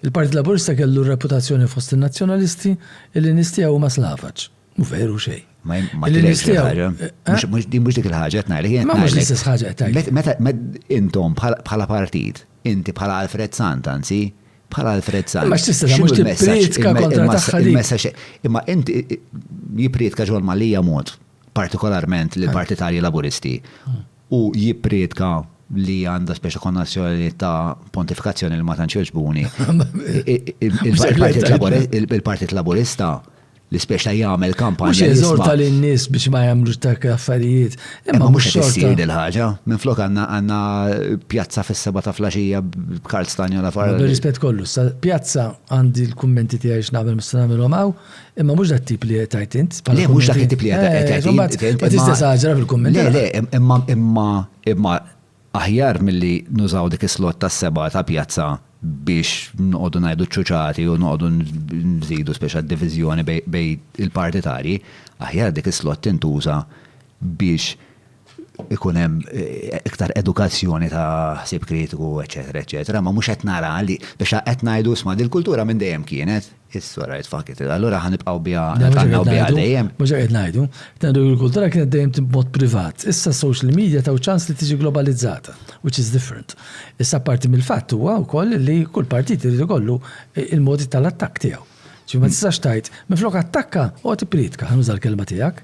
Il-Partit Laburista kellu r-reputazzjoni fost in-Nazzjonalisti illi nies tiegħu huma Slavaċ. Mhu veru xejn. Ma jim- ma Illi tilhekx nistgħu- il-ħaġa. Eh? Mhux- mhux- Din mhux dik il-ħaġa qed ngħidlek. jien Ma mhux ngħidlek. l-istess ħaġa qed tgħid. Met- Meta met- intom bħala bħala partit, inti bħala Alfred Sant anzi, bħala Alfred Sant. Imma x'tista' tagħmel? x'inhu Mhux il-messaġġ- tipprietka il-me- kontra il-massa- tagħha dik. il-messaġġ- Imma inti i- i- jipprietka ġol Malija mod. partikolarment lill-partitarji Laburisti, u jippriedka li għandha speċi konnotazzjoni ta' pontifikazzjoni li ma tantx jogħġbuni. Il-Partit Laburista li speċi ta' jagħmel kampanja. Mhux jeżorta lin-nies biex ma jagħmlux dak l-affarijiet. Imma mhux qed issir il-ħaġa. Minflok għandna pjazza fis-seba' ta' flaxija b'Karl Stagnola fara. Bir-rispett kollu, pjazza għandi l-kummenti tiegħi x'nagħmel mista' nagħmilhom hawn. Imma mhux dat tip li qed tgħid int. Le mhux dak it-tip li qed eh, tgħid int. Qed tistesaġra fil-kumment. Le le, imma imma imma aħjar milli nużaw dik is-slot tas-seba ta' pjazza biex noqogħdu ngħidu ċuċati u noqogħdu nżidu speċa diviżjoni bej il-partitarji, aħjar dik is-slot tintuża biex ikun hemm iktar edukazzjoni ta' ħsieb kritiku, eċetera, eċetera, ma mhux qed nara li biex qed ngħidu isma' dil-kultura minn dejjem kienet, issa rajt fakit, allura ħa nibqgħu biha nibqgħu biha dejjem. Mhux qed ngħidu, ngħidu l-kultura kienet dejjem b'mod privat, issa social media taw ċans li tiġi globalizzata, which is different. Issa parti mill-fatt huwa wkoll li kull partit irid ikollu il-modi tal-attakk tiegħu. Ġifieri ma tistax tgħid, minflok attakka, oqgħod ippriedka, ħa nuża l-kelma tiegħek.